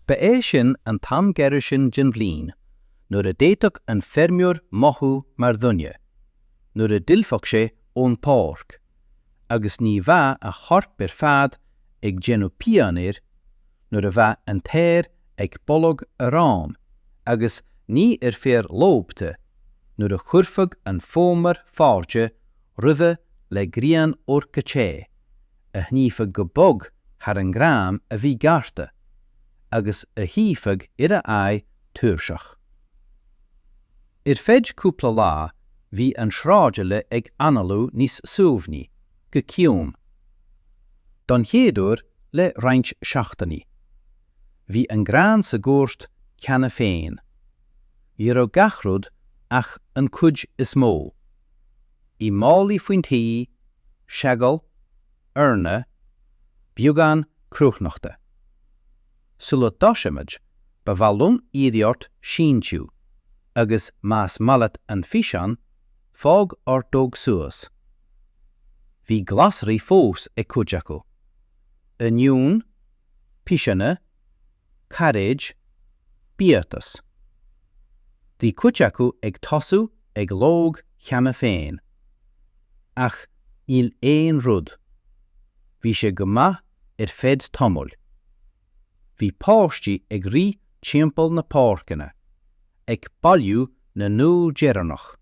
Ba é sin an t-am gairid sin den bhliain nuair a d'fhéadfadh an feirmeoir mothú mar dhuine, nuair a d'fhillfeadh sé ón bpáirc, agus ní bheadh a chorp ar fad ag déanamh pian air, nuair a bheadh an t-aer ag boladh aráin agus ní ar féar lobhta, nuair a chuirfeadh an fómhar fáilte roimhe le grian órga te, a shníomhfadh go bog thar an ngrán a bhí gearrtha, agus a shuífeadh ar a aghaidh tuirseach. Ar feadh cúpla lá bhí an sráidbhaile ag análú níos suaimhní, go ciúin. Don chéad uair le roinnt seachtainí. Bhí an grán sa gcúirt cheana féin. Ní raibh gach rud, ach an chuid is mó. Bhí málaí faoin tí, seagal, eorna, beagán cruithneachta. Sula dtosaímid, ba mhaith liom iarraidh ort síntiú, agus más maith leat an físeán, fág ordóg suas. Bhí glasraí fós ag cuid acu. Oinniúin, piseanna, cairéid, biatas. Bhí cuid acu ag tosú ag lobhadh cheana féin. Ach níl aon rud. Bhí sé go maith ar feadh tamaill. Bhí páistí ag rith timpeall na páirceanna, ag bailiú na n-úll deireanach,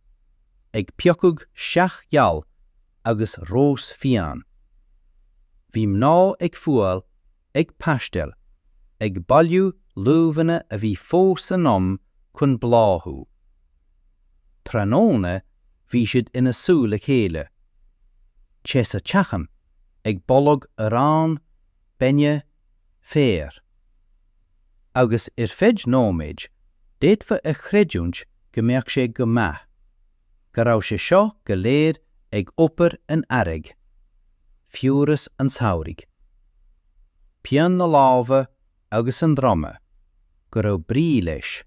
ag piocadh sceach gheal agus rós fiáin. Bhí mná ag fuáil ag paisteáil, ag bailiú luibheanna a bhí fós in am chun bláthú. Tráthnóna bhí siad ina suí le chéile, te sa teachín, ag boladh aráin, bainne, féir. Agus ar feadh nóiméid, d'fhéadfá a chreidiúint go mbeadh sé go maith. go raibh sé seo go léir ag obair an earraigh, fiabhras an tsamhraidh, pian na lámha agus an droma, go raibh brí leis,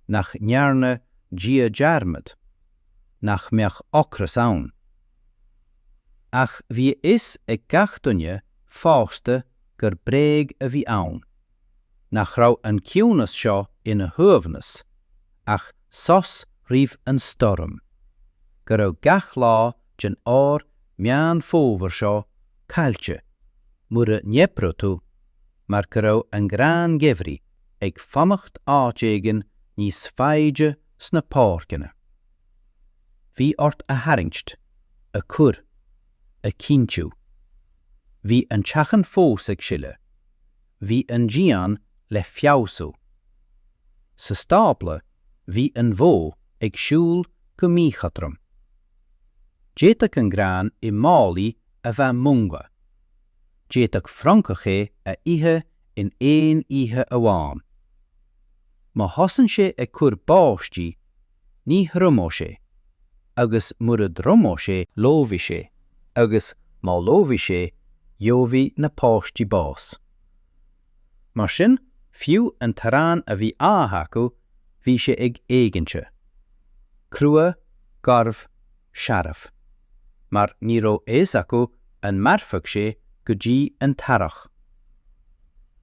nach ndearna Dia dearmad, nach mbeadh ocras ann. Ach bhí a fhios ag gach duine fásta gur bréag a bhí ann. nach raibh an ciúnas seo ina shuaimhneas ach sos roimh an stoirm, go raibh gach lá den ór Meán Fómhair seo caillte mura n-oibreodh tú mar go raibh an grán geimhridh ag fanacht áit éigin níos faide sna páirceanna. Bhí ort a tharraingt, a cur, a chinntiú. Bhí an teachín fós ag sileadh. bhí an dian le feabhsú. Sa stábla bhí an bhó ag siúl go míchothrom. D'fhéadfadh an grán i málaí a bheith múnga. D'fhéadfadh francach é a ithe in aon oíche amháin. Má thosaíonn sé ag cur báistí, ní thriomóidh sé, agus mura dtriomóidh sé, lobhfaidh sé, agus má lobhfaidh sé, gheobhaidh na páistí bás. Mar sin, fiú an t-arán a bhí á ithe acu, bhí sé ag éiginnte. Crua, garbh, searbh. Mar ní raibh a fhios acu an mairfeadh sé go dtí an t-earrach.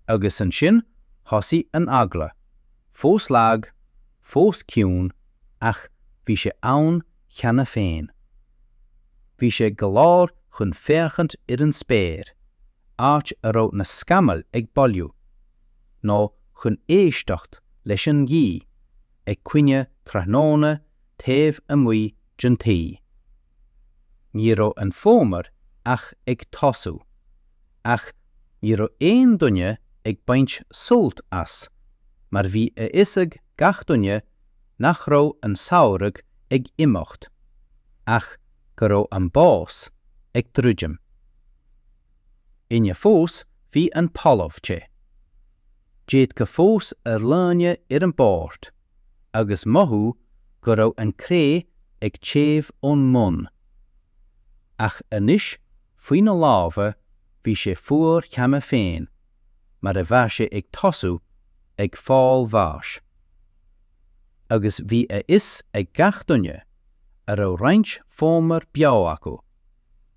Agus ansin thosaigh an eagla. Fós lag, fós ciúin, ach bhí sé ann cheana féin. Bhí sé go leor chun féachaint ar an spéir, áit a raibh na scamaill ag bailiú, nó chun éisteacht leis an ngaoth ag caoineadh tráthnóna taobh amuigh den tigh. Ní raibh an fómhar ach ag tosú. ach ní raibh aon duine ag baint sult as mar bhí a fhios ag gach duine nach raibh an samhradh ag imeacht ach go raibh an bás ag druidim. Inné fós bhí an talamh te. D'fhéadfadh fós aerlíne ar an bport agus mothú go raibh an cré ag téamh ón mbun. Ach anois Faoi na lámha bhí sé fuar cheana féin mar a bheadh sé ag tosú ag fáil bháis. Agus bhí a fhios ag gach duine a raibh roinnt fómhar beo acu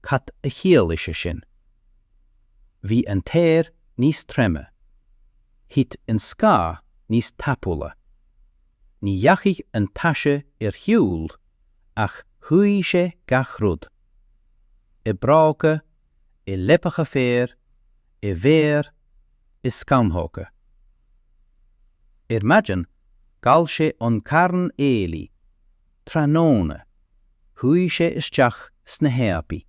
cad a chiallaigh sé sin. Bhí an t-aer níos troime. Thit an scáth níos tapúla. Ní dheachaigh an taise ar shiúl ach shuigh sé gach rud. i mbróga, i leapacha féir, i bhféar, i scamhóga. Ar maidin, ghal sé an carn aoiligh, tráthnóna, chuaigh sé isteach sna háibí.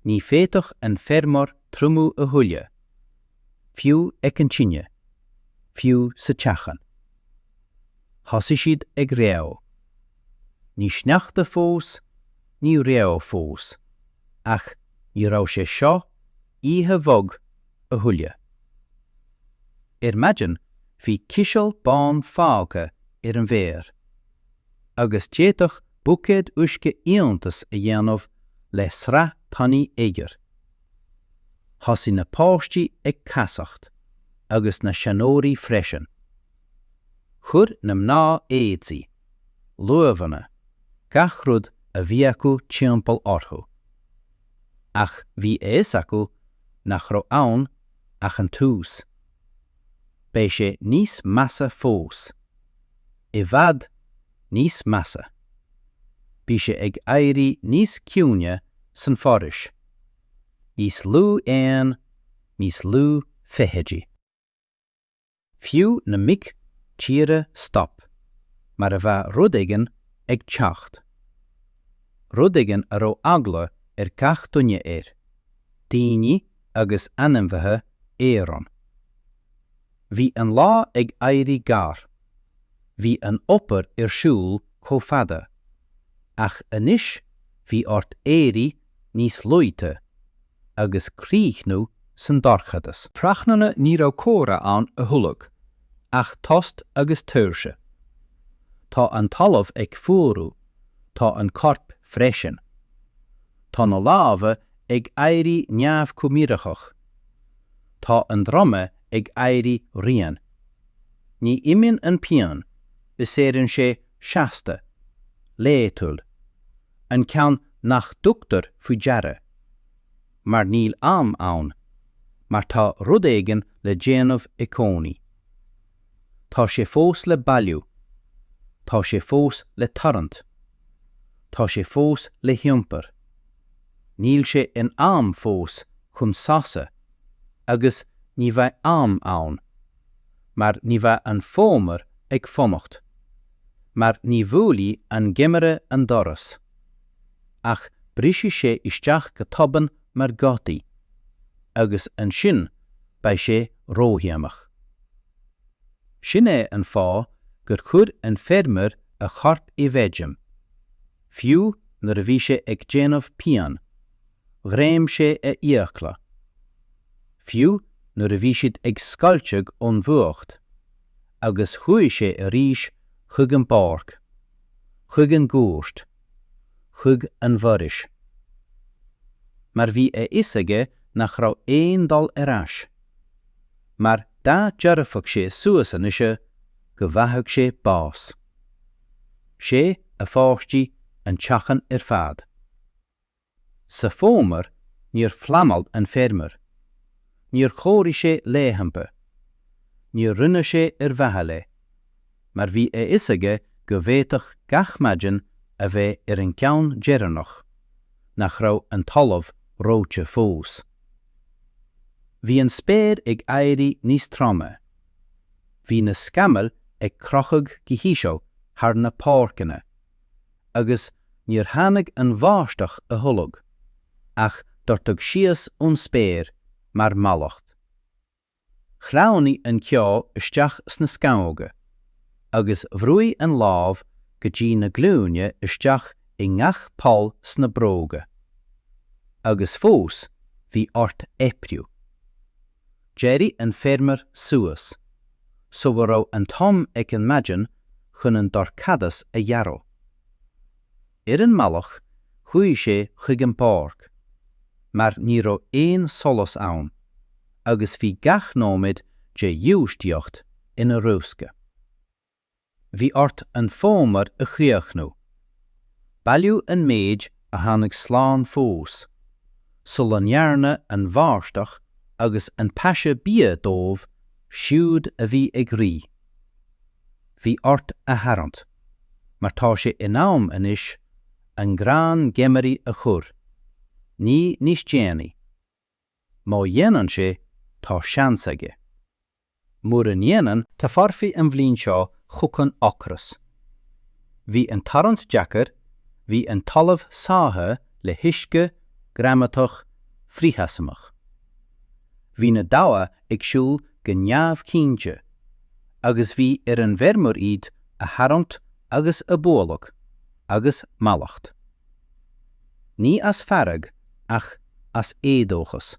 Ní féadfadh an feirmeoir triomú a thuilleadh. fiú ag an tine, fiú sa teach an. Thosaigh siad ag reó. Ní sneachta fós, ní reó fós, ach ní raibh sé seo oíche bhog a thuilleadh. Ar maidin bhí ciseal bán fágtha ar an bhféar, agus d'fhéadfadh buicéad uisce iontas a dhéanamh le sraith tanaí oighir. Thosaigh na páistí ag casacht, agus na seanóirí freisin. Chuir na mná éadaí, luibheanna, gach rud a bhí acu timpeall orthu. Ach bhí a fhios acu nach raibh ann ach an tús. Beidh sé níos measa fós. I bhfad níos measa. Bhí sé ag éirí níos ciúine san fhoraois. Níos lú éan, níos lú feithidí. Fiú na mic tíre stop mar a bheadh rud éigin ag teacht. Rud éigin a raibh eagla ar gach duine air, daoine agus ainmhithe araon. Bhí an lá ag éirí gearr. Bhí an obair ar siúl chomh fada. Ach anois bhí ort éirí níos luaithe agus críochnú san dorchadas. Tráthnónta ní raibh comhrá ann a thuilleadh, ach tost agus tuirse. Tá an talamh ag fuarú, tá an corp freisin. Tá na lámha ag éirí neamhchomhoiriúnach. Tá an droim ag éirí righin. Ní imíonn an pian, is éiríonn sé seasta, laethúil. An ceann nach dtugtar faoi deara. Mar níl am ann. Mar tá rud éigin le déanamh i cónaí. Tá sé fós le bailiú. Tá sé fós le tarraingt. Tá sé fós le hiompar. Níl sé in am fós chun sosa agus ní bheidh am ann, mar ní bheidh an fómhar ag fanacht, mar ní bhuailfidh an geimhreadh an doras. Ach brisfidh sé isteach go tobann mar ghadaí, agus ansin beidh sé ródhéanach. Sin é an fáth gur chuir an feirmeoir a chorp i bhfeidm, fiú nuair a bhí sé ag déanamh pian, ghreim sé a fhiacla. Fiú nuair a bhí siad ag scoilteadh ón bhfuacht, agus chuaigh sé arís chuig an bpáirc, chuig an gcúirt. chuig an bhforaois. Mar bhí a fhios aige nach raibh aon dul ar ais. Mar dá dtabharfadh sé suas anois, go bhfaigheadh sé bás. Sé a pháistí an teaghlach ar fad. Sa bhfómhar níor phleanáil an feirmeoir. Níor chomhairigh sé laethanta. Níor rinne sé ar mhaithe le. mar bhí a fhios aige go bhféadfadh gach maidin a bheith ar an gceann deireanach nach raibh an talamh reoite fós. Bhí an spéir ag éirí níos troime. Bhí na scamaill ag crochadh go híseal thar na páirceanna. agus níor tháinig an bháisteach a thuilleadh, ach doirteadh síos ón spéir mar mhallacht. Shleamhnaigh an ceo isteach sna scamhóga, agus bhrúigh an láib go dtí na glúine isteach i ngach poll sna bróga. Agus fós bhí ort oibriú. D'éirigh an feirmeoir suas, sula raibh an t-am ag an mhaidin chun an dorchadas a ghearradh. Ar an mbealach chuaigh sé chuig an bpáirc, mar ní raibh aon solas ann, agus bhí gach nóiméad de ghiúistíocht ina riosca. Bhí ort an fómhar a chríochnú. Bailiú an méid a tháinig slán fós, sula ndearna an bháisteach agus an taise bia dóibh siúd a bhí ag rith. Bhí ort a tharraingt, mar tá sé in am anois an grán geimhridh a chur, ní níos déanaí. Má dhéanann sé, tá seans aige. Mura ndéanann. Tabharfaidh an bhliain seo chugainn ocras. Bhí an tarraingt deacair, bhí an talamh sáithe le huisce, greamadach, frithsheasmhach. Bhí na damha ag siúl go neamhchinnte agus bhí ar an bhfeirmeoir iad a tharraingt agus a bhualadh, agus mallacht. Ní as fearg ach as éadóchas.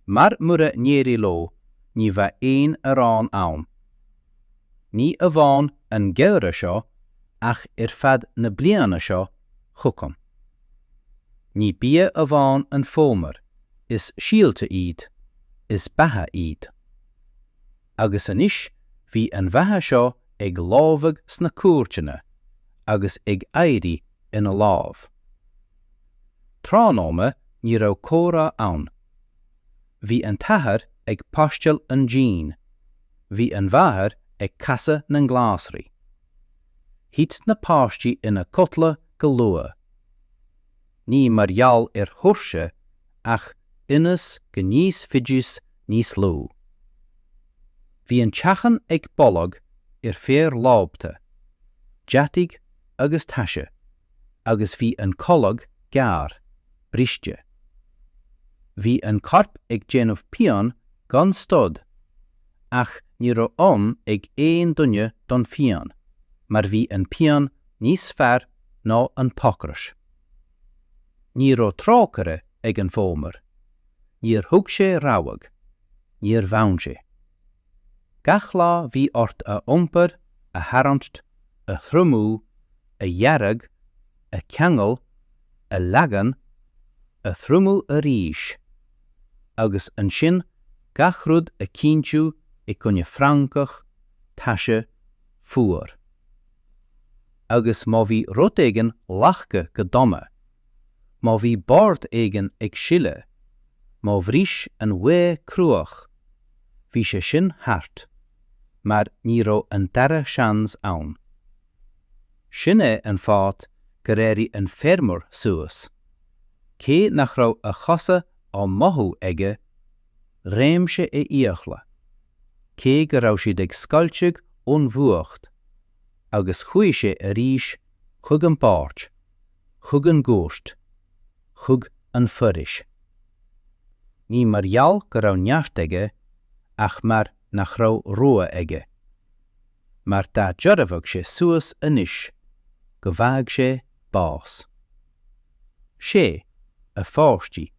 Mar mura n-éirí leo ní bheidh aon arán ann. Ní amháin an geimhreadh seo ach ar feadh na bliana seo chugainn. Ní bia amháin an fómhar, is síolta iad, is beatha iad. agus anois bhí an bheatha seo ag lobhadh sna cúirteanna agus ag éirí ina láib. Tráthnóna ní raibh comhrá ann. Bhí an t-athair ag paisteáil an dín, bhí an mháthair ag casadh na nglasraí. Thit na páistí ina codladh go luath. ní mar gheall ar thuirse ach ionas go n-íosfaidís níos lú. Bhí an teach ag boladh ar féar lofa, deataigh agus taise agus bhí an codladh gearr, briste. Bhí an corp ag déanamh pian gan stad ach ní raibh am ag aon duine don phian mar bhí an pian níos fearr ná an t-ocras. Ní raibh trócaire ag an bhfómhar. Níor thug sé rabhadh. Níor bhain sé. Gach lá bhí ort a iompar, a tharraingt, a thriomú, a dhearg, a cheangal, a leagan, a thriomú arís. Agus ansin gach rud a chinntiú i gcoinne francach, taise, fuacht. agus má bhí rud éigin leagtha go dona, má bhí bord éigin ag sileadh, má bhris an ghaoth cruach, bhí sé sin thart, mar ní raibh an dara seans ann. Sin é an fáth gur éirigh an feirmeoir suas, cé nach raibh a chosa á mothú aige, réim sé a fhiacla, cé go raibh siad ag scoilteadh ón bhfuacht, agus chuaigh sé arís chuig an bpáirc, chuig an gcúirt, chuig an bhforaois. Ní mar gheall go raibh neart aige ach mar nach raibh rogha aige. Mar dá dtabharfadh sé suas anois go bhfaigheadh sé bás. Sé, a pháistí,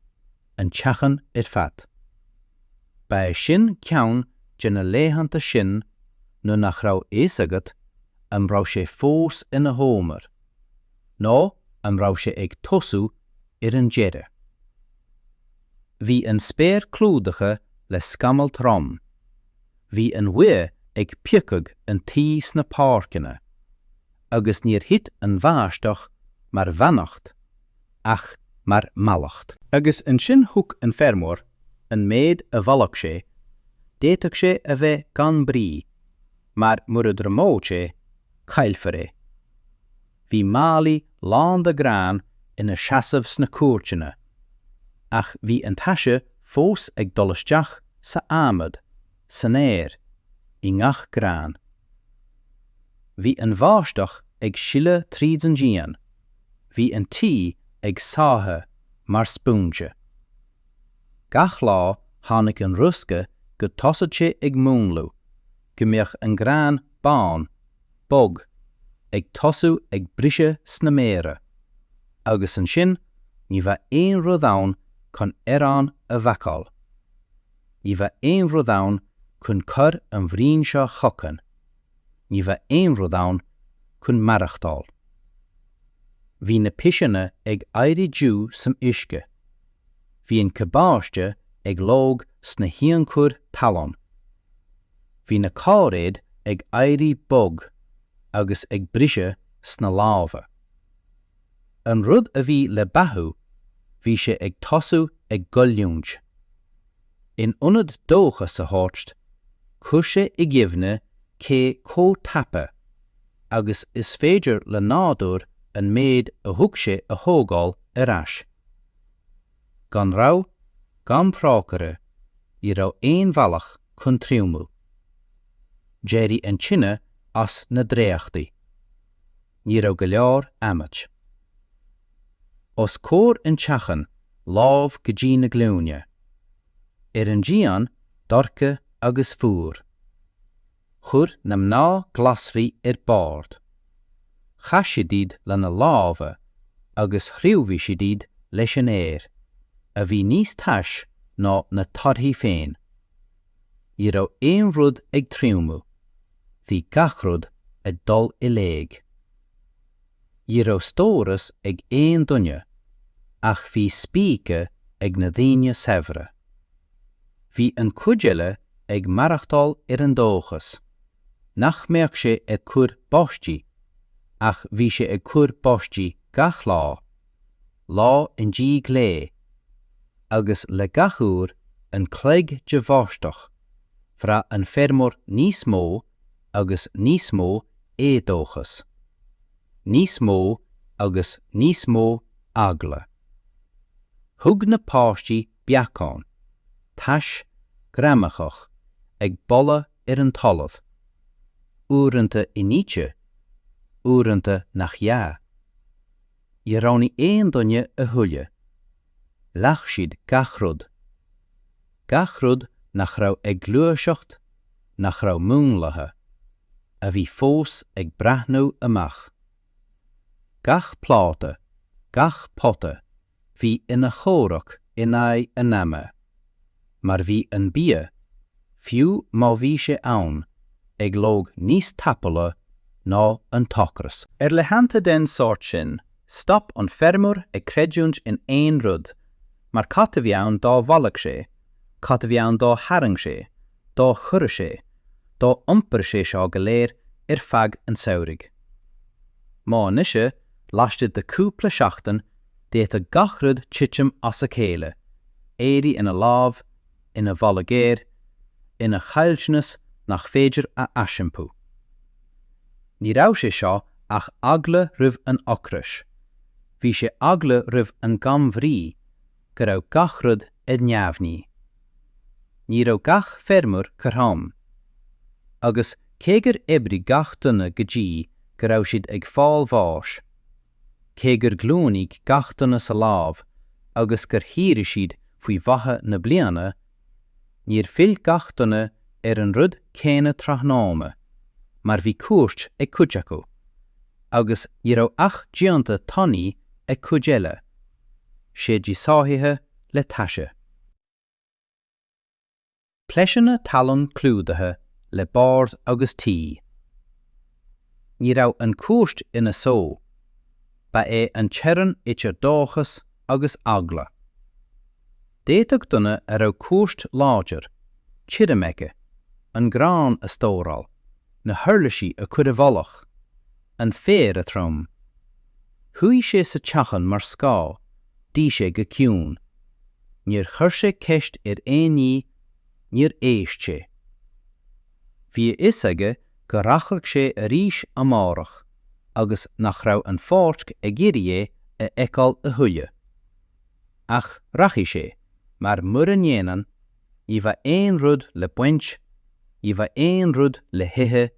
an teach ar fad. Ba é sin ceann de na laethanta sin nuair nach raibh a fhios agat an raibh sé fós ina fhómhar, nó an raibh sé ag tosú ar an deireadh. Bhí an spéir clúdaithe le scamaill throma. Bhí an ghaoth ag piocadh an tuí sna páirceanna, agus níor thit an bháisteach mar bheannacht ach mar mhallacht. Agus ansin thuig an feirmeoir, an méid a bhailigh sé, d'fhéadfadh sé a bheith gan brí, mar mura dtriomóidh sé, caillfear é. Bhí málaí lán de ghrán ina seasamh sna cúirteanna, ach bhí an taise fós ag dul isteach san adhmad. san aer, i ngach grán. Bhí an bháisteach ag sileadh tríd an díon, bhí an tuí ag sáithiú mar spúinse. Gach lá tháinig an riosca go dtosódh sé ag múnlú, go mbeadh an grán bán, bog, ag tosú ag briseadh sna méara, agus ansin ní bheadh aon rud ann chun arán a bhácáil. Ní bheadh aon rud ann chun cur an bhliain seo chugainn. Ní bheadh aon rud ann chun maireachtáil. Bhí na piseanna ag éirí dubh san uisce. Bhí an cabáiste ag lobhadh sna hionchuir talún. Bhí na cairéid ag éirí bog agus ag briseadh sna lámha. An rud a bhí le beathú, bhí sé ag tosú ag goilliúint. In ionad dóchas a thabhairt, chuir sé i gcuimhne cé chomh tapa agus is féidir le nádúr an méid a thug sé a thógáil ar ais. Gan rabhadh, gan trócaire, ní raibh aon bhealach chun triomú. D'éirigh an tine as na dréachtaí. ní raibh go leor adhmaid. Os comhair an teachín, láib go dtí na glúine. Ar an díon, dorcha agus fuar. Chuir na mná glasraí ar bord. Chaith siad iad lena lámha agus thriomaigh siad iad leis an aer, a bhí níos tais ná na torthaí féin. Ní raibh aon rud ag triomú. Bhí gach rud ag dul i léig. Ní raibh stóras ag aon duine, ach bhí spíce ag na daoine saibhre. Bhí an chuid eile ag maireachtáil ar an dóchas nach mbeadh sé ag cur báistí, ach bhí sé ag cur báistí gach lá. lá i ndiaidh lae, agus le gach uair an chloig de bháisteach, bhraith an feirmeoir níos mó agus níos mó éadóchais, níos mó agus níos mó eagla. Thug na páistí beacáin tais ghreamaitheach ag boladh ar an talamh, uaireanta inite, uaireanta nach ea. Níor roghnaigh aon duine a thuilleadh. Leath siad gach rud. Gach rud nach raibh ag gluaiseacht, nach raibh múnlaithe, a bhí fós ag breathnú amach. Gach pláta, gach pota, bhí ina chomhrac in aghaidh an ama. mar bhí an bia, fiú má bhí sé ann, ag lobhadh níos tapúla ná an t-ocras. Ar laethanta den sórt sin, stop an feirmeoir ag creidiúint in aon rud, mar cad a bhí ann dá bhailigh sé, cad a bhí ann dá tharraing sé, dá chuireadh sé, dá iompair sé seo go léir ar feadh an tsamhraidh? Má anois, laistigh de chúpla seachtain, D'fhéadfadh gach rud titim as a chéile, éirí ina lámh ina bholadh géar, ina chaillteanas nach féidir a aisiompú. Ní raibh sé seo ach eagla roimh an ocras, bhí sé eagla roimh an gcambhrí go raibh gach rud ar neamhní. Ní raibh gach feirmeoir cothrom. Agus cé gur oibrigh gach duine go dtí go raibh siad ag fáil bháis, cé gur ghlúinigh gach duine sa lámh agus gur shaothraigh siad faoi mhaithe na bliana, níor fhill gach duine ar an rud céanna tráthnóna, mar bhí cúirt ag cuid acu, agus ní raibh ach díonta tanaí ag cuid eile, séidí sáithithe le taise. Plaiceanna talún clúdaithe le boird agus tuí. Ní raibh an chúirt ina só, ba é an teorainn idir dóchas agus eagla. D'fhéadfadh duine a raibh cúirt láidir, tirim aige, an grán a stóráil, na huirlisí a chur i bhfolach. an féar a throm. Shuigh sé sa teachain mar scáth, d'ith sé go ciúin. Níor chuir sé ceist ar aon ní, níor éist sé. Bhí a fhios aige go rachadh sé arís amárach agus nach raibh an pháirc ag iarraidh é a fheiceáil a thuilleadh. Ach rachaidh sé, mar mura ndéanann, ní bheidh aon rud le baint, ní bheidh aon rud le hithe,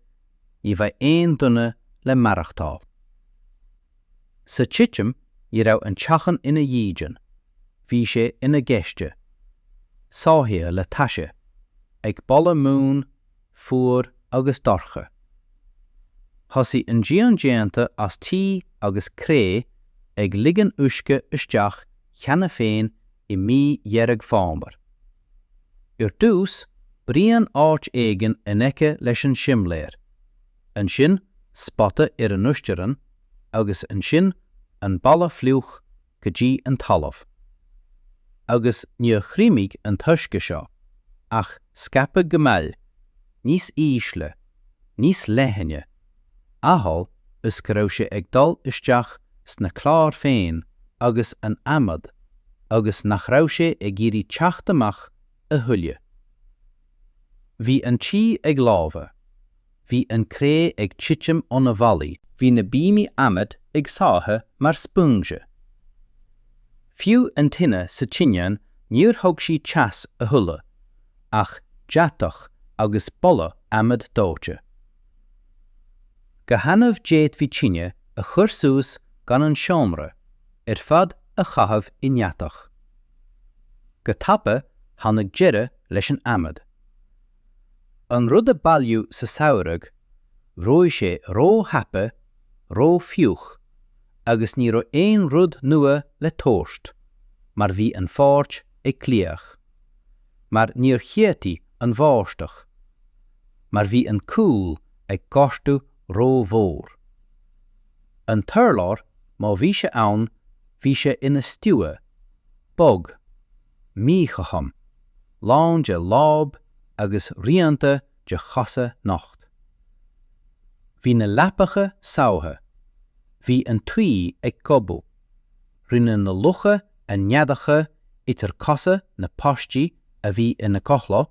ní bheidh aon duine le maireachtáil. Sa titim ní raibh an teachan ina dhídean, bhí sé ina ghaiste, sáithithe le taise, ag boladh múin, fuar agus dorcha. Thosaigh an díon déanta as tuí agus cré ag ligean uisce isteach cheana féin i mí Dheireadh Fómhair. Ar dtús, braon áit éigin in aice leis an simléar, ansin spota ar an uiscerian agus ansin an balla fliuch go dtí an talamh. Agus níor thriomaigh an t-uisce seo, ach scaipeadh go mall, níos ísle, níos leithne, amhail is go raibh sé ag dul isteach sna cláir féin agus an adhmad agus nach raibh sé ag iarraidh teacht amach a thuilleadh. Bhí an tuí ag lobhadh. bhí an cré ag titim ó na bhfallaí. Bhí na bíomaí adhmaid ag sáthadh mar spúinse. Fiú an tine sa tinteán níor thug sí teas a thuilleadh, ach deatach agus boladh adhmaid dóite. Go hannamh d'fhéadfaí tine a chur suas gan an seomra ar fad a chaitheamh i ndeatach. Go tapa tháinig deireadh leis an adhmad. An rud a bailíodh sa samhradh, dhóigh sé ró-thapa, ró-fhliuch, agus ní raibh aon rud nua le tabhairt, mar bhí an pháirc ag glaoch. Mar níor cheadaigh an bháisteach. Mar bhí an cúl ag gortú ró-mhór. An t-urlár, má bhí sé ann, bhí sé ina stiúgha, bog. míchothrom, lán de láib agus rianta de chosa nocht. Bhí na leapacha sámha. Bhí an tuí ag gobadh. Rinne na lucha a neadacha idir cosa na bpáistí a bhí ina gcodladh,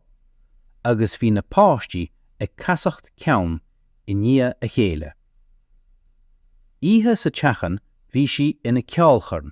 agus bhí na páistí ag casacht ceann i ndiaidh a chéile. Oíche sa teachín bhí sí ina ceolchoirm.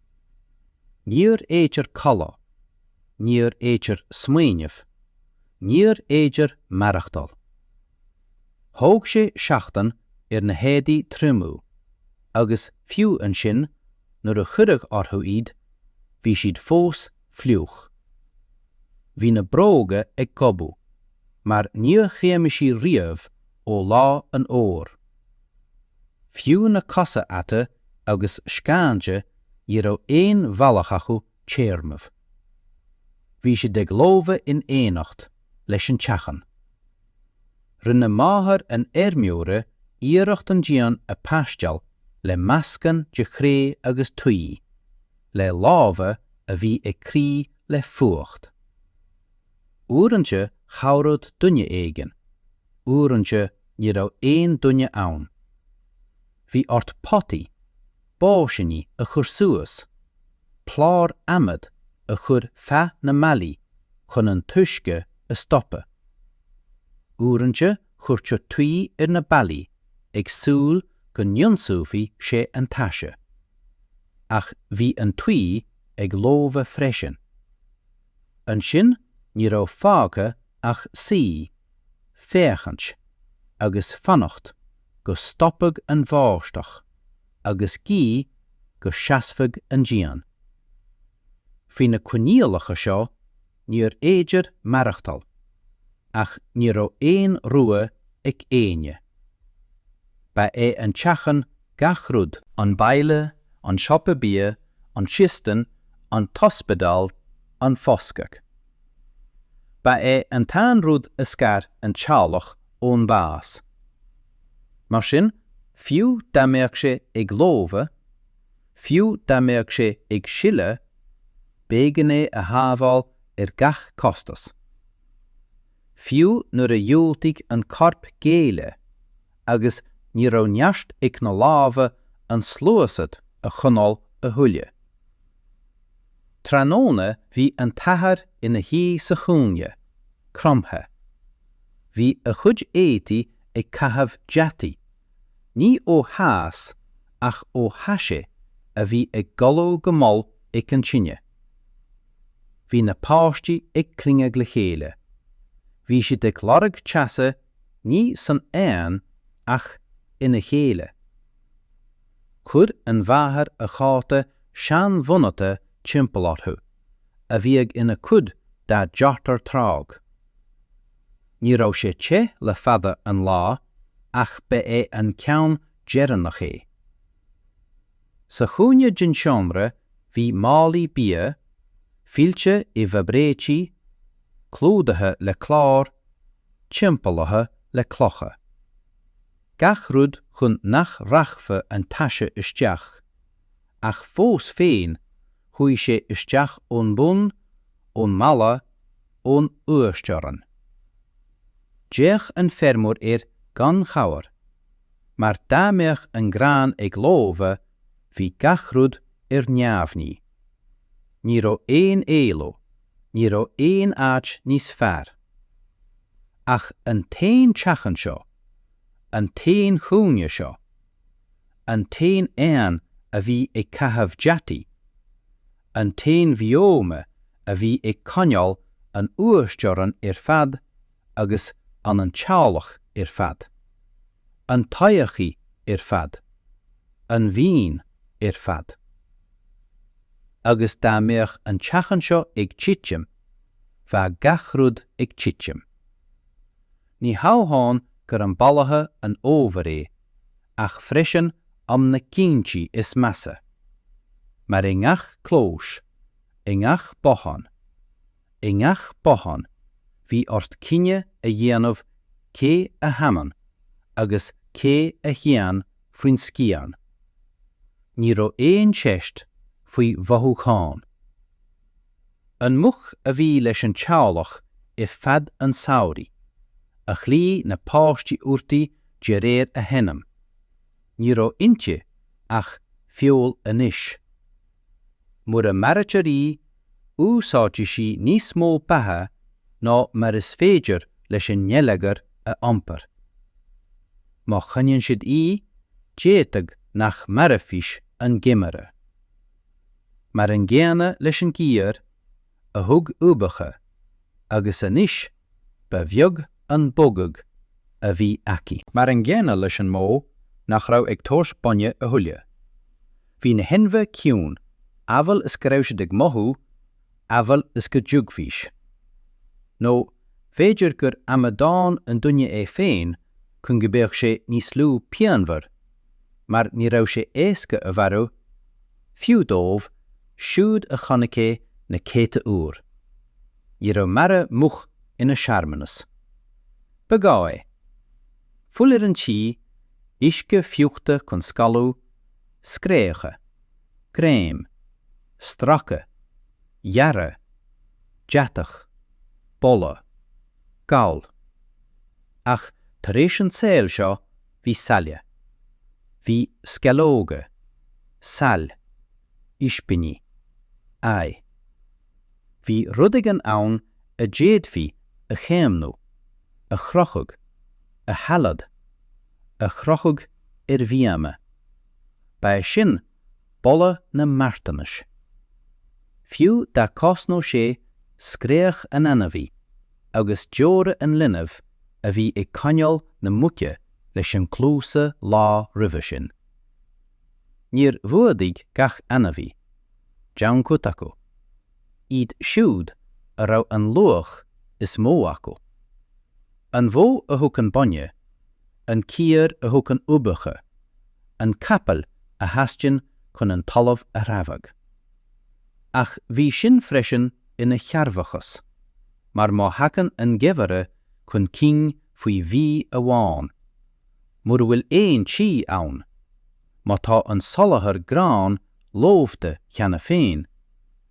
Níor fhéidir codladh, níor fhéidir smaoineamh, níor fhéidir maireachtáil. Thóg sé seachtain ar na héadaí triomú agus fiú ansin nuair a cuireadh orthu iad, bhí siad fós fliuch. Bhí na bróga ag gobadh mar níor thriomaigh sí riamh ó lár an fhómhair. Fiú na cosa ata agus scáinte ní raibh aon bhealach acu téarnamh. Bhí siad ag lobhadh in éineacht leis an teachín. Rinne máthair an fheirmeora iarracht an díon a phaisteáil le meascán de chré agus tuí, le lámha a bhí ag crith le fuacht. Uaireanta chabhraíodh duine éigin, uaireanta ní raibh aon duine ann. Bhí ort potaí, báisíní a chur suas, cláir adhmaid a chur feadh na mballaí chun an t-uisce a stopadh. Uaireanta chuirtí tuí ar na ballaí ag súil go n-ionsúfadh sé an taise. Ach bhí an tuí ag lobhadh freisin. Ansin ní raibh fágtha ach suí, féachaint, agus fanacht go stopfadh an bháisteach agus guí go seasfadh an díon. Faoi na coinníollacha seo níorbh fhéidir maireachtáil, ach ní raibh aon rogha ag éinne. Ba é an teach Gach rud. An baile, an siopa bia, an chistin, an t-ospidéal, an foscadh. Ba é an t-aon rud a scar an teaghlach ón mbás. Mar sin, fiú dá mbeadh sé ag lobhadh, fiú dá mbeadh sé ag sileadh, b'éigean é a shábháil ar gach costas. Fiú nuair a dhiúltaigh an corp géilleadh, agus ní raibh neart ag na lámha an tsluasaid a choinneáil a thuilleadh. Tráthnóna bhí an t-athair ina shuí sa chúinne, cromtha. Bhí a chuid éadaí ag caitheamh deataí, ní ó theas ach ó thaise a bhí ag galú go mall ag an tine. Bhí na páistí ag cruinniú le chéile. Bhí siad ag lorg teasa ní san aer ach ina chéile. Chuir an mháthair an cóta seanbhunaithe timpeall orthu, a bhíodh ina cuid dá deartháir tráth. Ní raibh sé te le fada an lá ach ba é an ceann deireanach é. Sa chúinne den seomra bhí málaí bia, fillte i bhfabraic, clúdaithe le cláir, timpeallaithe le clocha. Gach rud chun nach rachfadh an taise isteach, ach fós féin chuaigh sé isteach ón mbun, ón mballa, ón uasteorainn. D'fhéach an feirmeoir air gan chabhair. mar dá mbeadh an grán ag lobhadh, bhí gach rud ar neamhní. Ní raibh aon éaló, ní raibh aon áit níos fearr. Ach an t-aon teach anseo, an t-aon chúinne seo, an t-aon oigheann a bhí ag caitheamh deataigh, an t-aon bhíoma a bhí ag coinneáil an uasteorainn ar fad, agus an an teaghlach ar fad. An todhchaí ar fad. An mhaoin ar fad. Agus dá mbeadh an teach anseo ag titim, bheadh gach rud ag titim. Ní hamháin gur am bailithe an fhómhair é ach freisin am na gcinntí is measa. Mar i ngach clós, i ngach bothán, I ngach bothán, bhí ort cinneadh a dhéanamh cé a fhanann agus cé a théann faoin scian. Ní raibh aon cheist faoi mhothúcháin. An mhuc a bhí leis an teaghlach ar feadh an tsamhraidh, a ghlaoigh na páistí uirthi de réir a hainm, ní raibh inti ach feoil anois. Mura maraítear í, úsáidfidh sí níos mó beatha ná mar is féidir leis an ngeilleagar a iompar. Má choinníonn siad í, d'fhéadfadh nach mairfidís an geimhreadh. Mar an gcéanna leis an gcearc, a thug uibheacha agus anois ba bheag an bogadh a bhí aici. Mar an gcéanna leis an mbó nach raibh ag tabhairt bainne a thuilleadh. Bhí na hainmhithe ciúin, amhail is go raibh siad ag mothú, amhail is go dtuigfidís. Nó b'fhéidir gur amadán an duine é féin chun go mbeadh sé níos lú pianmhar, mar ní raibh sé éasca a mharú, fiú dóibh siúd a chonaic é na céadta uair. Ní raibh marú muc ina shearmanas. Ba ghá é. Fuil ar an tuí, uisce fiuchta chun scalladh, scréacha, greim, stracadh, gearradh, deatach, boladh. Gal. Ach tar éis an tsaoil seo bhí saille. Bhí sceallóga. Saill. Ispíní. Ae. Bhí rud éigin ann a d'fhéadfaí a chaomhnú, a chrochadh, a shailleadh, a chrochadh ar bhíoma. Ba é sin boladh na marthanais. Fiú dá gcosnódh sé scréach an ainmhí agus deora an linbh a bhí ag coinneáil na muice leis an gcluas an lá roimhe sin. Níor fhuadaigh gach ainmhí. D'fhan cuid acu. iad siúd a raibh an luach is mó acu. An bhó a thug an bainne, an cearc a thug an uibheacha, an capall a theastaíonn chun an talamh a threabhadh. Ach bhí sin freisin ina chearrbhachas, mar má thagann an geimhreadh chun cinn faoi mhí amháin, mura bhfuil aon tuí ann, má tá an soláthar gráin Lobhtha cheana féin,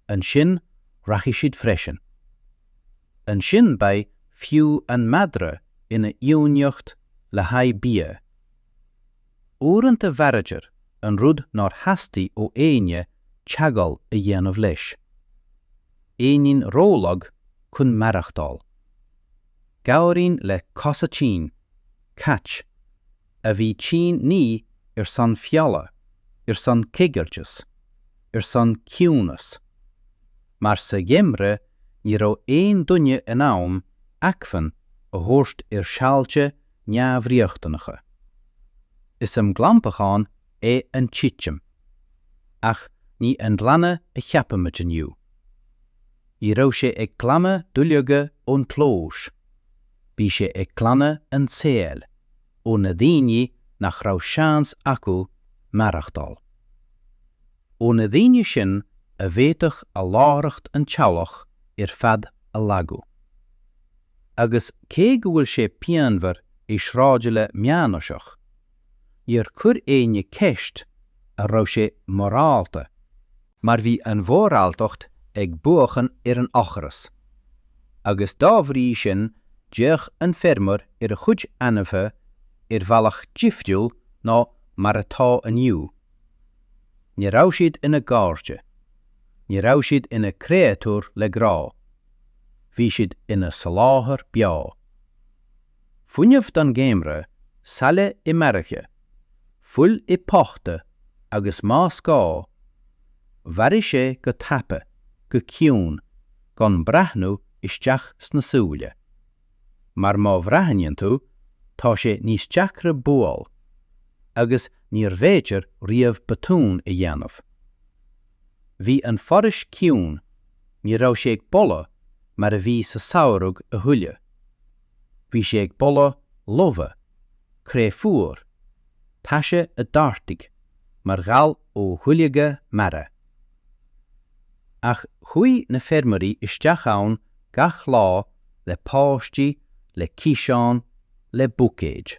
ansin rachaidh siad freisin. Ansin beidh fiú an madra ina iomaíocht le haghaidh bia. Uaireanta mharaítear an rud nár theastaigh ó éinne teagmháil a dhéanamh leis. Éinín rólag chun maireachtáil. Gabhairín le cosa tinn, cait. a bhí tinn ní ar son feola, ar son coigiltis, ar son ciúnas. Mar sa gheimreadh ní raibh aon duine in ann acmhainn a thabhairt ar shaolta neamhriachtanacha. Is am glantacháin é an titim. Ach ní an glanadh a cheapaimid inniu. Ní raibh sé ag glanadh duilleoga ón gclós. bhí sé ag glanadh an tsaoil ó na daoine nach raibh seans acu maireachtáil. Ó na daoine sin a bhféadfadh a láithreacht an teaghlach ar fad a lagú. Agus cé go bhfuil sé pianmhar i sráidbhaile meánaoiseach, níor chuir éinne ceist an raibh sé morálta Mar bhí an mhoráltacht ag buachan ar an ocras. Agus dá bhrí sin d'fhéach an feirmeoir ar a chuid ainmhithe ar bhealach difriúil ná mar atá inniu. Ní raibh siad ina gcairde. Ní raibh siad ina gcréatúir le grá. Bhí siad ina soláthar beo. Fuinneamh don gheimhreadh, saill i mbairille, fuil i bpota agus más gá, mharaigh sé go tapa, go ciúin, gan breathnú isteach sna súile. Mar má bhreathnaíonn tú, tá sé níos deacra buail, agus níorbh fhéidir riamh botún a dhéanamh. Bhí an foraois ciúin, ní raibh sé ag boladh mar a bhí sa samhradh a thuilleadh. Bhí sé ag boladh lobhadh, cré fuar, taise a d'ardaigh mar ghal ó dhuilleoga marbha. Ach chuaigh na feirmeoirí isteach ann gach lá le páistí, le ciseáin, le buicéid.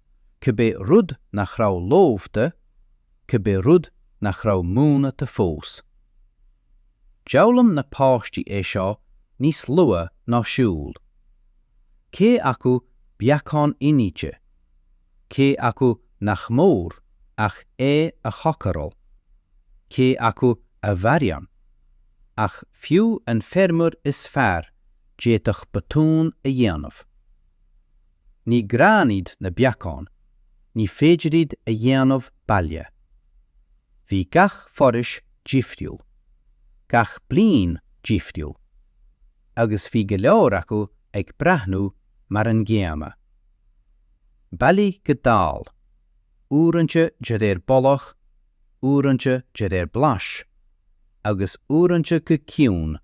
cibé rud nach raibh lobhta, cibé rud nach raibh múnta fós. D'fhoghlaim na páistí é seo níos luath ná siúl. Cé acu beacán inite, cé acu nach mór ach é a chócaráil, cé acu a mharaíonn, ach fiú an feirmeoir is fearr d'fhéadfadh botún a dhéanamh. Ní grán iad na beacáin, ní féidir iad a dhéanamh baile. Bhí gach foraois difriúil, gach bliain difriúil, agus bhí go leor acu ag breathnú mar an gcéanna. Bailíodh go dall, uaireanta de réir boladh, uaireanta de réir blais, agus uaireanta go ciúin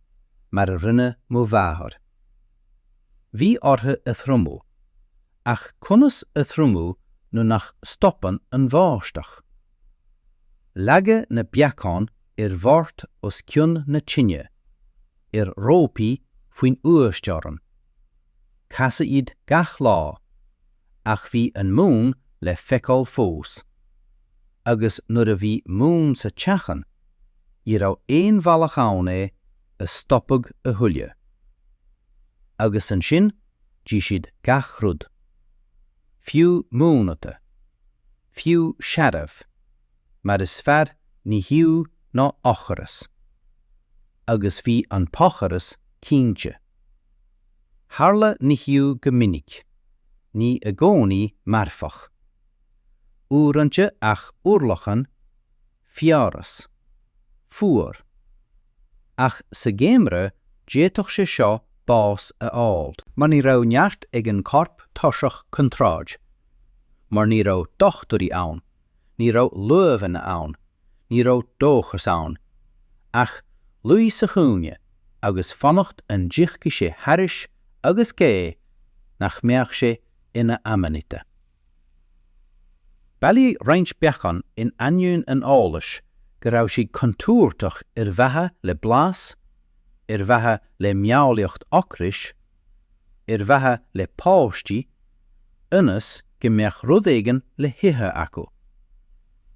mar a rinne mo mháthair. Bhí orthu a thriomú. Ach conas a thriomú nuair nach stopann an bháisteach? Leagadh na beacáin ar bhord os cionn na tine, ar rópaí faoin uasteorainn. Casadh iad gach lá. Ach bhí an mún le feiceáil fós. Agus nuair a bhí mún sa teachín, ní raibh aon bhealach ann é a stopadh a thuilleadh. Agus ansin d'ith siad gach rud. Fiú múnta. Fiú searbh. Mar is fearr nimhiú ná ocras. Agus bhí an t-ocras cinnte. Tharla nimhiú go minic. Ní i gcónaí marfach. Uaireanta ach urlacan Fiabhras. Fuar. Ach sa gheimreadh d'fhéadfadh sé seo bás a fháil. Mar ní raibh neart ag an corp tuirseach chun troid. Mar ní raibh dochtúirí ann, ní raibh luibheanna ann, ní raibh dóchas ann. Ach luí sa chúinne agus fanacht an dtiocfaidh sé thairis agus guí nach mbeadh sé ina Amanita. Bailíodh roinnt beacán in ainneoin an eolais go raibh siad contúirteach ar mhaithe le blas, ar mhaithe le meabhlaíocht ocrais, ar mhaithe le páistí, ionas go mbeadh rud éigin le hithe acu.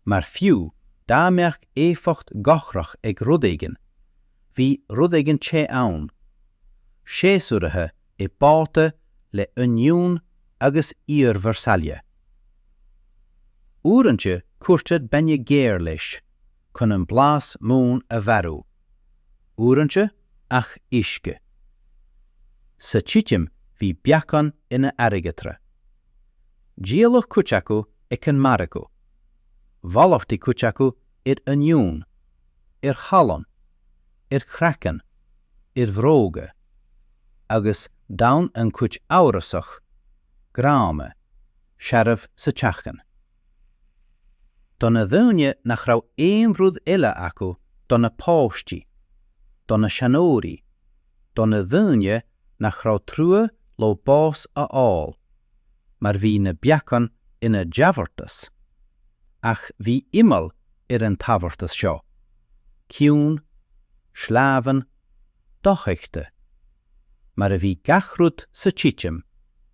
Mar fiú dá mbeadh éifeacht dhochrach ag rud éigin, bhí rud éigin te ann, séasúraithe i bpota le oinniún agus peirsil. Uaireanta cuirtear bainne géar leis chun an blas mín a mharú, uaireanta ach uisce. Sa titim bhí beacán ina airgeadra. Díoladh cuid acu ag an margadh. Mhalartaigh cuid acu ar oinniún, ar shalann, ar chraiceann, ar bhróga, agus d'fhan an chuid amhrasach, gránna, searbh sa teachín. Do na daoine nach raibh aon rud eile acu do na páistí, do na seanóirí, do na daoine nach raibh trua leo bás a fháil, mar bhí na beacáin ina dtabhartas. Ach bhí imeall ar an tabhartas seo, ciúin, sleamhain, dofheichte. Mar a bhí gach rud sa titim,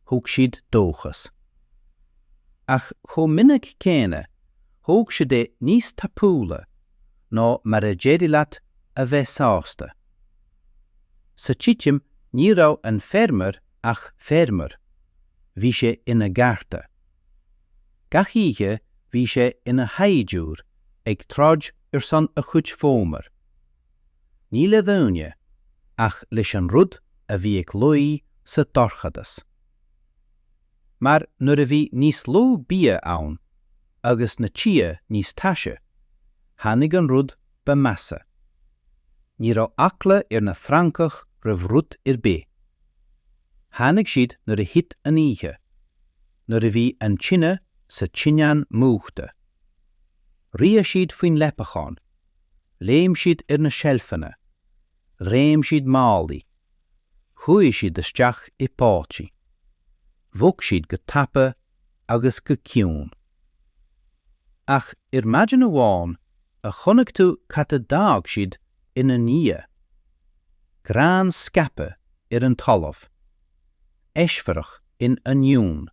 thug siad dóchas. Ach chomh minic céanna, thóg siad é níos tapúla ná mar a d'éirigh leat a bheith sásta. Sa titim ní raibh an feirmeoir ach feirmeoir. Bhí sé ina gharda. Gach oíche bhí sé ina shaighdiúir ag troid ar son a chuid fómhar. Ní le daoine, ach leis an rud a bhí ag luí sa dorchadas. Mar nuair a bhí níos lú bia ann, agus na tithe níos taise, tháinig an rud ba mheasa. Ní raibh eagla ar na francaigh roimh rud ar bith. Tháinig siad nuair a thit an oíche, nuair a bhí an tine sa tinteán múchta. Ritheadh siad faoin leapachán, léim siad ar na seilfeanna, chreim siad málaí, chuaigh siad isteach i bpotaí. Bhog siad go tapa agus go ciúin. Ach ar maidin amháin a chonaic tú cad a d'fhág siad ina ndiaidh. Grán scaipthe ar an talamh. Eisfhearadh in oinniúin.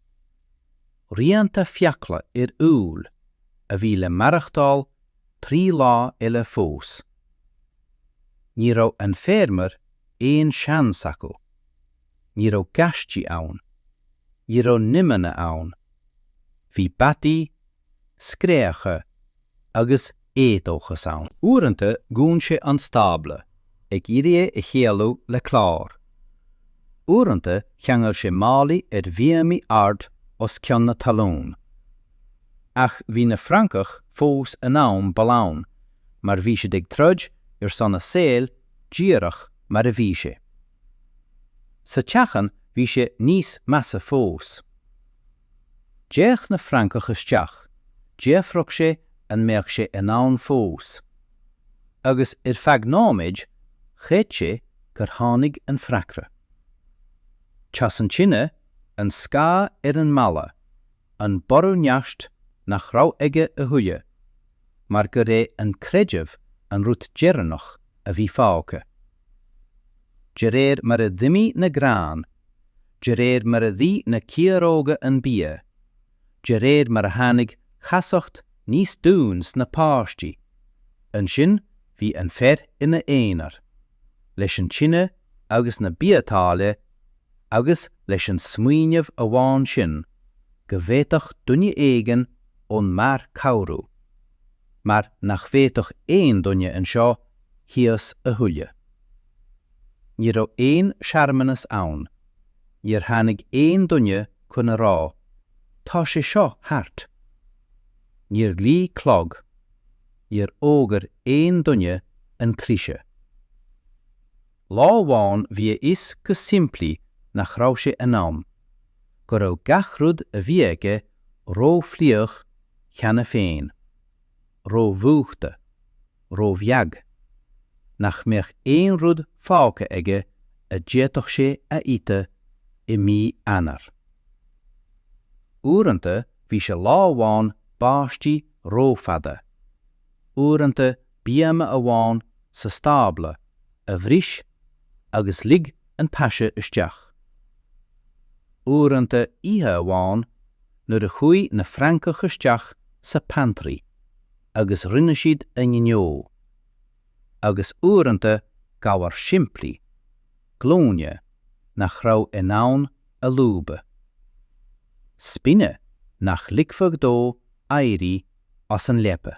Rianta fiacla ar úll a bhí le maireachtáil trí lá eile fós. Ní raibh an feirmeoir aon seans acu. Ní raibh gaistí ann. Ní raibh nimeanna ann. Bhí bataí, scréacha agus éadóchas ann. Uaireanta dhún sé an stábla, ag iarraidh é a shéalú le clár. Uaireanta cheangail sé málaí ar bhíomaí ard os cionn na talún. Ach bhí na Francaigh fós in ann balláin mar bhí siad ag troid ar son a saoil díreach mar a bhí sé. Sa teachín bhí sé níos measa fós. D'fhéach na Francaigh isteach, d'fhiafraigh sé an mbeadh sé in ann fós. Agus ar feadh nóiméid, chreid sé gur tháinig an freagra. Teas an tine, an scáth ar an mballa, an borradh neart nach raibh aige a thuilleadh, mar gur é an creideamh an rud deireanach a bhí fágtha. De réir mar a d'imigh na gráin, de réir mar a d'ith na ciaróga an bia, de réir mar a tháinig casacht níos domhain sna páistí, ansin bhí an fear ina aonar, leis an tine agus na biotáille agus leis an smaoineamh amháin sin go bhféadfadh duine éigin ón mbarr cabhrú. mar nach bhféadfadh aon duine anseo thíos a thuilleadh. Ní raibh aon searmanas ann, níor tháinig aon duine chun a rá, 'Tá sé seo thart'. Níor ghlaoigh clog, níor fhógair aon duine an cliseadh. Lá amháin bhí a fhios go simplí nach raibh sé in ann, go raibh gach rud a bhí aige rófhliuch cheana féin, rómhúchta, róbheag, nach mbeadh aon rud fágtha aige a d'fhéadfadh sé a ithe i mí Eanáir. Uaireanta bhí sé lá amháin báistí rófhada, uaireanta bíoma amháin sa stábla a bhris agus lig an taise isteach. Uaireanta oíche amháin nuair a chuaigh na Francaigh isteach sa 'pantry' agus rinne siad a ngnó. Agus uaireanta gabhar simplí, glúine, nach raibh in ann a lúbadh. Spina nach ligfeadh dó éirí as an leaba.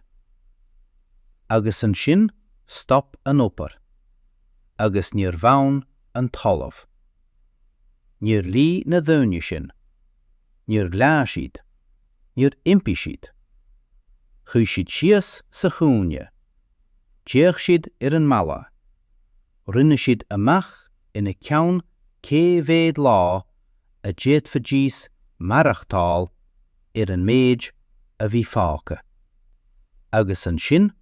Agus ansin stop an obair. Agus níor fhan an talamh. Níor lig na daoine sin. Níor ghlaoigh siad. Níor impigh siad. Shuigh siad síos sa chúinne. D'fhéach siad ar an mballa. Rinne siad amach ina gceann cé mhéad lá a d'fhéadfaidís maireachtáil, ar an méid a bhí fágtha. Agus ansin,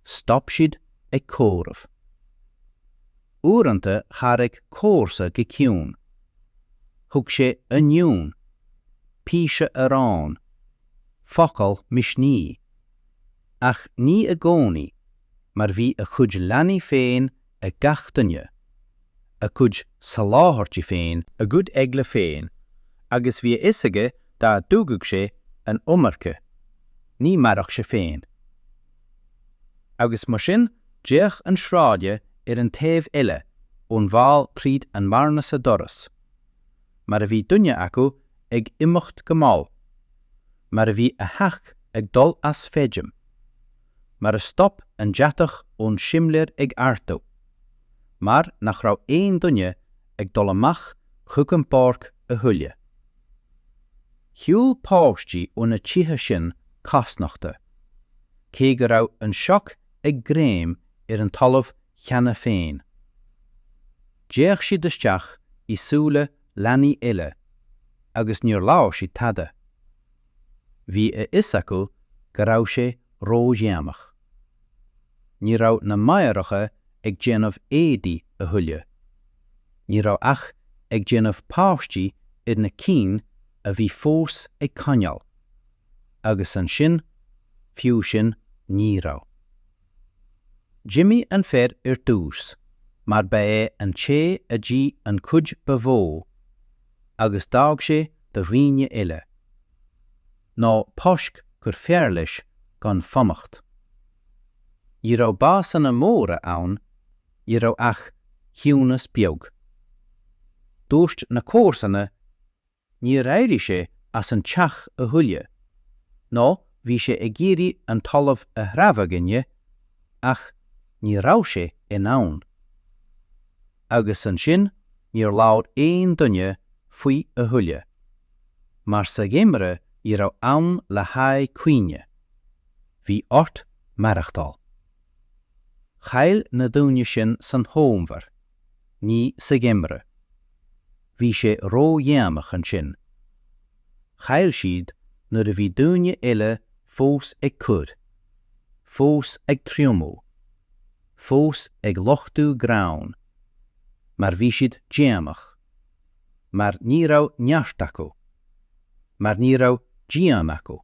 stop siad ag comhaireamh. Uaireanta thairg comharsa go ciúin. Thug sé oinniún, píosa aráin, focal misnigh. Ach ní i gcónaí, mar bhí a chuid leanaí féin ag gach duine, a gcuid soláthairtí féin, a gcuid eagla féin, agus bhí a fhios aige dá dtugadh sé an iomarca, ní mhairfeadh sé féin. Agus mar sin d'fhéach an sráide ar an taobh eile ón bhfál tríd an mbearna sa doras, mar a bhí duine acu ag imeacht go mall, mar a bhí a theach ag dul as feidhm, mar a stop an deatach ón simléar ag ardú, mar nach raibh aon duine ag dul amach chuig an bpáirc a thuilleadh. Shiúil páistí ó na tithe sin cosnochta, cé go raibh an sioc ag greim ar an talamh cheana féin. D'fhéach siad isteach i súile leanaí eile, agus níor labhair siad tada. Bhí a fhios acu go raibh sé ródhéanach. Ní raibh na máithreacha ag déanamh éadaí a thuilleadh. Ní raibh ach ag déanamh paistí ar na cinn a bhí fós ag coinneáil. Agus ansin, fiú sin, ní raibh. D'imigh an fear ar dtús, mar ba é an té a d'ith an chuid ba mhó, agus d'fhág sé do dhaoine eile, nó toisc gur fearr leis gan fanacht. Ní raibh básanna móra ann, ní raibh ach ciúnas beag. Dúirt na comharsana, níor éirigh sé as an teach a thuilleadh, nó bhí sé ag iarraidh an talamh a threabhadh inné, ach ní raibh sé in ann. Agus ansin níor labhair aon duine faoi a thuilleadh. Mar sa gheimreadh ní raibh am le haghaidh cuimhne. Bhí ort maireachtáil. Chaill na daoine sin san Fhómhar, ní sa gheimreadh. Bhí sé ró-dhéanach ansin. Chaill siad nuair a bhí daoine eile fós ag cur, fós ag triomú, fós ag luchtú gráin, mar bhí siad déanach, mar ní raibh neart acu, mar ní raibh díon acu,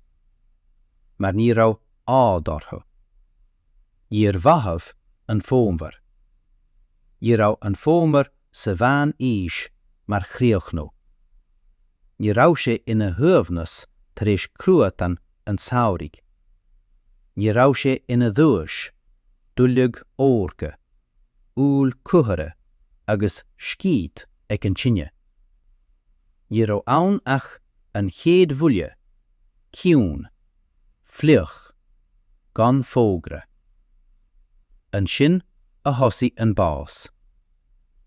mar ní raibh ádh orthu. Níor mhaith an fómhar. Ní raibh an fómhar sa mheán aois mar chríochnú. Ní raibh sé ina shuaimhneas tar éis cruatán an tsamhraidh. Ní raibh sé ina dhuais, duilleog órga, úll cumhra agus scíth ag an tine. Ní raibh ann ach an chéad bhuille, ciúin, fliuch, gan fógra. Ansin a thosaigh an bás.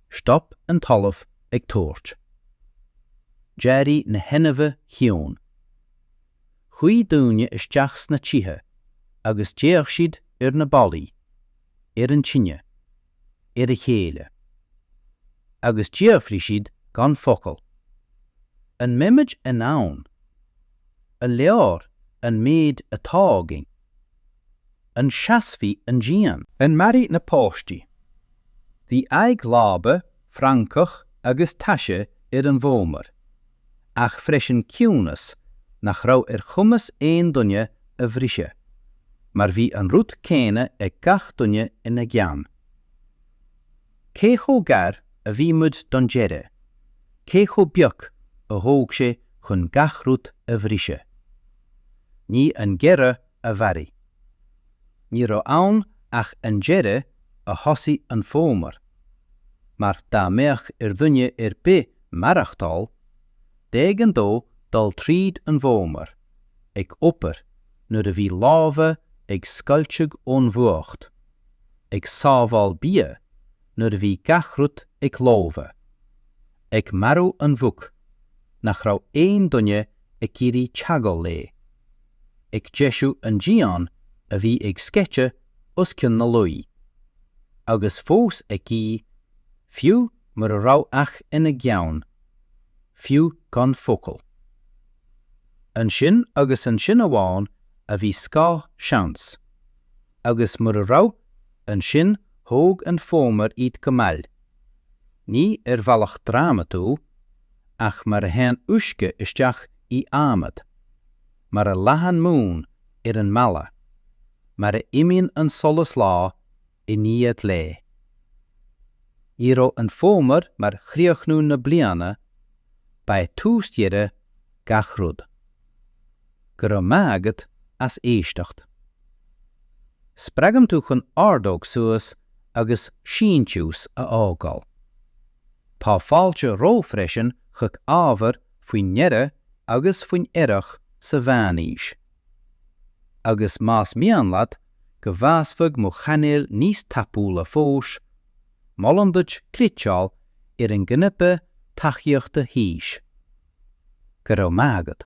Stop an talamh ag tabhairt. D'éirigh na hainmhithe ciúin. Chuaigh daoine isteach sna tithe agus d'fhéach siad ar na ballaí, ar an tine, ar a chéile. Agus d'fhiafraigh siad gan focal, 'An mbeimid in ann a leor an méid atá againn? An seasfaidh an díon? An mairfidh na páistí? Bhí aghaidh láibe francach agus taise ar an bhfómhar, ach freisin ciúnas nach raibh ar chumas aon duine a bhriseadh, mar bhí an rud céanna ag gach duine ina gceann. Cé chomh gar a bhí muid don deireadh? Cé chomh beag a thóg sé chun gach rud a bhriseadh? Ní an geimhreadh a mharaigh. Ní raibh ann ach an deireadh a thosaigh an fómhar, mar dá mbeadh ar dhuine ar bith maireachtáil, b'éigean dó dul tríd an bhfómhar, ag obair nuair a bhí lámha ag scoilteadh ón bhfuacht, ag sábháil bia nuair a bhí gach rud ag lobhadh, ag marú an mhuc nach raibh aon duine ag iarraidh teagmháil léi, ag deisiú an díon a bhí ag sceitheadh os cionn na luí, agus fós ag guí, fiú mura raibh ach ina gceann, fiú gan focal. Ansin agus ansin amháin a bhí scáth seans, Agus mura raibh, ansin thóg an fómhar iad go mall, ní ar bhealach drámatúil, ach mar a théann uisce isteach in adhmad, mar a leathann mún ar an mballa, mar a imíonn an solas lá i ndiaidh lae. Ní raibh an fómhar mar chríochnú na bliana, ba é tús dheireadh gach rud. Go raibh maith agat as éisteacht. Spreagaim tú chun ordóg suas agus síntiús a fhágáil. Tá fáilte romhat freisin chuig ábhar faoin ngeimhreadh agus faoin earrach sa mheánaois. Agus más mian leat go bhfásfadh mo chainéal níos tapúla fós, Molaim duit cliceáil ar an gcnaipe tacaíochta thíos. Go raibh maith agat!